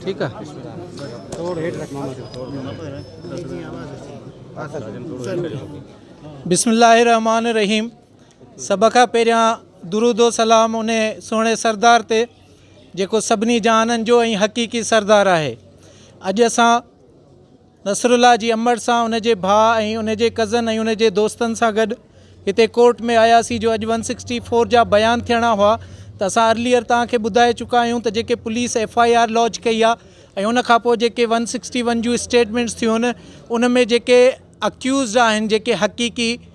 ٺيڪ آ ٿورو هيٺ رک ماما بسم الله الرحمٰن الرحيم سڀ کان پهريان درود و سلام ان سهڻي سردار تي جيڪو سڀني جهانن جو ۽ حقيقي سردار آهي اڄ اسان نصرالله جي امڙ سان ان جي ڀاء ۽ ان جي ڪزن ۽ ان جي دوستن سان گڏ هتي ڪورٽ ۾ آياسين جو اڄ ون سڪسٽي فور جا بيان ٿيڻا هئا ته اسان ارليئر توهان کي ٻڌائي چڪا آهيون ته جيڪي police F I R lodge ڪئي آهي ۽ ان کان پوء جيڪي ون سڪسٽي ون جون اسٽيٽمينٽس ٿيون ان ۾ جيڪي اڪيوزڊ آهن جيڪي حقيقي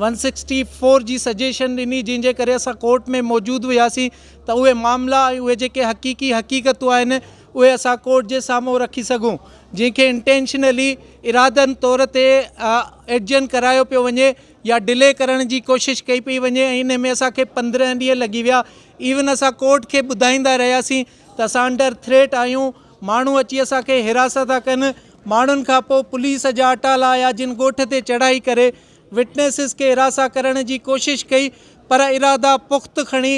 ون سڪسٽي فور جي سجيشن ڏني جنهن جي ڪري اسان ڪورٽ ۾ موجود هياسين ته اهي معاملا ۽ اهي جيڪي حقيقي حقيقتون آهن اهي اسان ڪورٽ جي سامهون رکي سگهون جنهن کي انٽينشنلي ارادن طور تي ايڊجن ڪرايو پيو وڃي يا ڊلي ڪرڻ جي ڪوشش ڪئي پئي وڃي ۽ انهي ۾ اسان کي پندرهن ڏينهن لڳي ويا ايون اسان ڪورٽ کي ٻڌائيندا رهياسين ته اسان انڊر ٿريٽ آهيون ماڻهو اچي اسان کي حراسا ٿا ڪن ماڻهن کان پوء پوليس جا اٽالا آيا جن ڳوٺ تي چڙهائي ڪري وٽنيسز کي هراسان ڪرڻ جي ڪوشش ڪئي پر ارادا پخت کڻي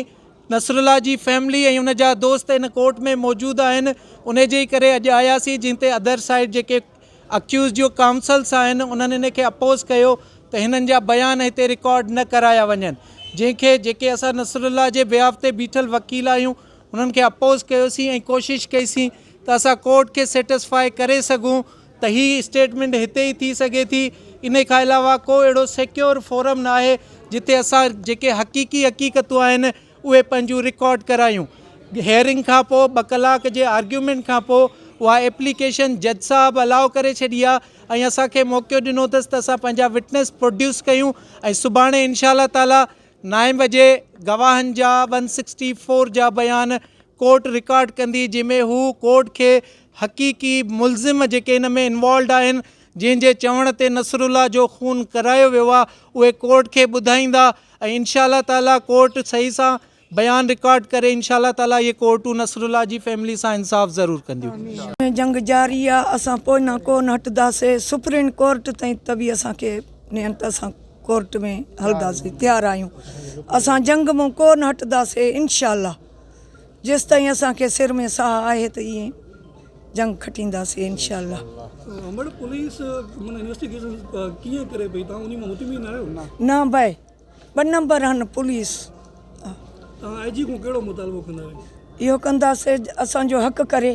نصرالله جي فيملي ۽ ان جا دوست ان ڪورٽ ۾ موجود آهن انهي جي ئي ڪري اڄ آياسين جنهن تي ادر سائيڊ جيڪي اڪيوزڊ جو ڪائونسلس آهن انهن ان کي اپوز ڪيو ته هنن جا بيان هتي رڪارڊ نه ڪرايا وڃن جنهن کي جيڪي اسان نصرالله جي بيهاف تي بيٺل وڪيل آهيون انهن کي اپوز ڪيوسين ۽ ڪوشش ڪئي سين ته اسان ڪورٽ کي سيٽسفائي ڪري سگهون ته هي اسٽيٽمينٽ هتي ئي ٿي سگهي ٿي. انهي کان علاوه ڪو اهڙو سيڪيور فورم ناهي جتي اسان جيڪي حقيقي حقيقتون آهن اهي پنهنجون رڪارڊ ڪرايون. هيئرنگ کان پوء ٻه ڪلاڪ جي آرگيومينٽ کان پوء اها ايپليڪيشن جج صاحب الاء ڪري ڇڏي آهي ۽ اسان کي موقعو ڏنو اٿس ته اسان پنهنجا وٽنس پروڊيوس ڪيون ۽ سڀاڻي انشاء الله تعاليٰ نائين بجي گواهن جا ون سڪسٽي فور جا بيان ڪورٽ رڪارڊ ڪندي جنهن ۾ هو ڪورٽ کي حقيقي ملزم جيڪي ان ۾ انوالوڊ آهن جنهن جي چوڻ تي نصرالله جو خون ڪرايو ويو آهي اهي ڪورٽ کي ٻڌائيندا ۽ انشاء الله تعالي ڪورٽ صحيح سان بيان رڪارڊ ڪري انشاء الله تعالي اهي ڪورٽون نصرالله جي فيملي سان انصاف ضرور ڪنديون. جنگ جاري آ اسان پوئنا ڪون هٽداسي سپرين ڪورٽ تائين ته به اسان کي نينت سان. ڪورٽ ۾ هلنداسين تيار آهيون اسان جنگ مون ڪون هٽنداسي انشاء الله جيستائين اسان کي سر ۾ ساهه آهي ته ائين جنگ کٽينداسي انشاء الله مڙ پوليس من انويسٽيگيشن ڪيئن ڪري پئي تان اني مطمئن آهيو نه بھي ٻه نمبر هن پوليس تان آء جي ڪون ڪهڙو مطالبو ڪندا اهو ڪنداسي اسان جو حق ڪري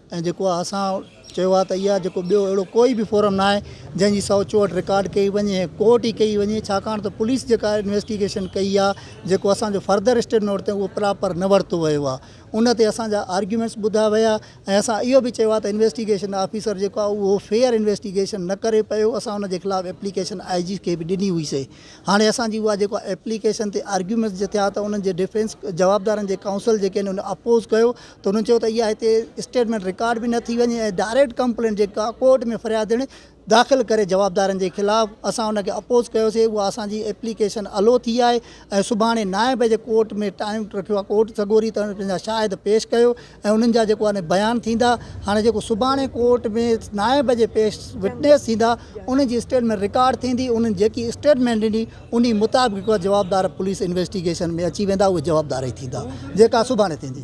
۽ جيڪو آء اسان چيو آهي ته اها جيڪو ٻيو اهڙو ڪوئي به فورم نه آهي جنهن جي سئو چوهٺ رڪارڊ ڪئي وڃي ۽ ڪورٽ ئي ڪئي وڃي ڇاڪاڻ ته پوليس جيڪا انويسٽيگيشن ڪئي آهي جيڪو اسان جو فرڌر اسٽيڊ نوٽ تي اهو پراپر نه ورتو ويو آهي ان تي اسان جا آرگيومينٽس ٻڌا ويا ۽ اسان اهو به چيو آهي ته انويسٽيگيشن آفيسر جيڪو آهي اهو فيئر انويسٽيگيشن نه ڪري پيو اسان ان جي خلاف ايپليڪيشن آء جي کي به ڏني هئي سي هاڻي اسان جي اها جيڪو آهي ايپليڪيشن تي آرگيومينٽس جي ٿيا ته انهن جي ڊفينس جوابدارن جي ڪائونسل جيڪي آهن ان اپوز ڪيو ته هنن چيو ته اها هتي اسٽيٽمينٽ رڪارڊ به نه ٿي وڃي ۽ ڊائريڪٽ ڪمپلينٽ جيڪا ڪورٽ ۾ فريادڻي داخل ڪري جوابدارن جي خلاف اسان ان کي اپوز ڪيوسي اها اسان جي ايپليڪيشن الو ٿي آهي ۽ سڀاڻي نائين بجي ڪورٽ ۾ ٽائيم رکيو آهي ڪورٽ سڳوري ته پنهنجا شاهد پيش ڪيو ۽ انهن جا جيڪو آهي بيان ٿيندا هاڻي جيڪو سڀاڻي ڪورٽ ۾ نائين بجي پيش وٽنيس ٿيندا انهن جي اسٽيٽمينٽ رڪارڊ ٿيندي انهن جيڪي اسٽيٽمينٽ ڏني انهي مطابق جيڪا جوابدار پوليس انويسٽيگيشن ۾ اچي ويندا اهي جوابدار ئي ٿيندا جيڪا سڀاڻي ٿيندي.